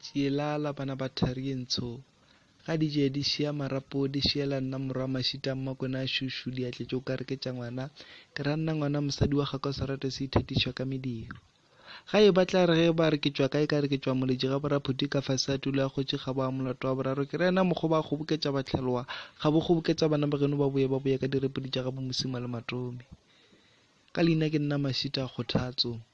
Tšielala bana ba thari ye ntsho. Ga di je di šea marapo di šeela nna morwa mašita mmakona a šušu di atletše o ka re ke tša ngwana ke ra nna ngwana mosadi wa gaka o sa rate se ithatišwa ka mediro ga e batla re ge ba re ke tšwa kae ka re ke tšwa moletši ga boraphuti ka fase a tulo ya kgotši ga ba molato wa boraro ke rena mokgo ba kgoboketša batlhalowa ga bo kgoboketša bana ba geno ba boye ba boye ka direpodi tša ga bomosima le matomi ka leina ke nna mašita kgothatso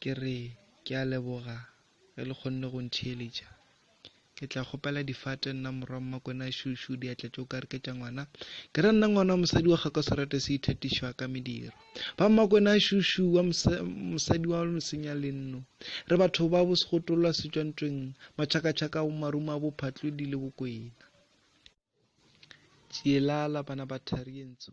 Ke re, Ke a leboga, ge le kgonne go ntheeletša. Ke tla kgopela difate, nna morwa Mmakwena, šu-šu, diatla tše o ka re ke tša ngwana. Ke re, Nna ngwana wa mosadi wa gakwa Serate se ithatišwa ka mediro. Ba Mmakwena, šu-šu, wa mosadi wa mosenya lenno. Re batho ba bo segotolwa se tšwa ntweng, matšhakatšhaka a bo marumo a bo phatlodi le bokwena. Tšielala, bana ba thari ye ntsho.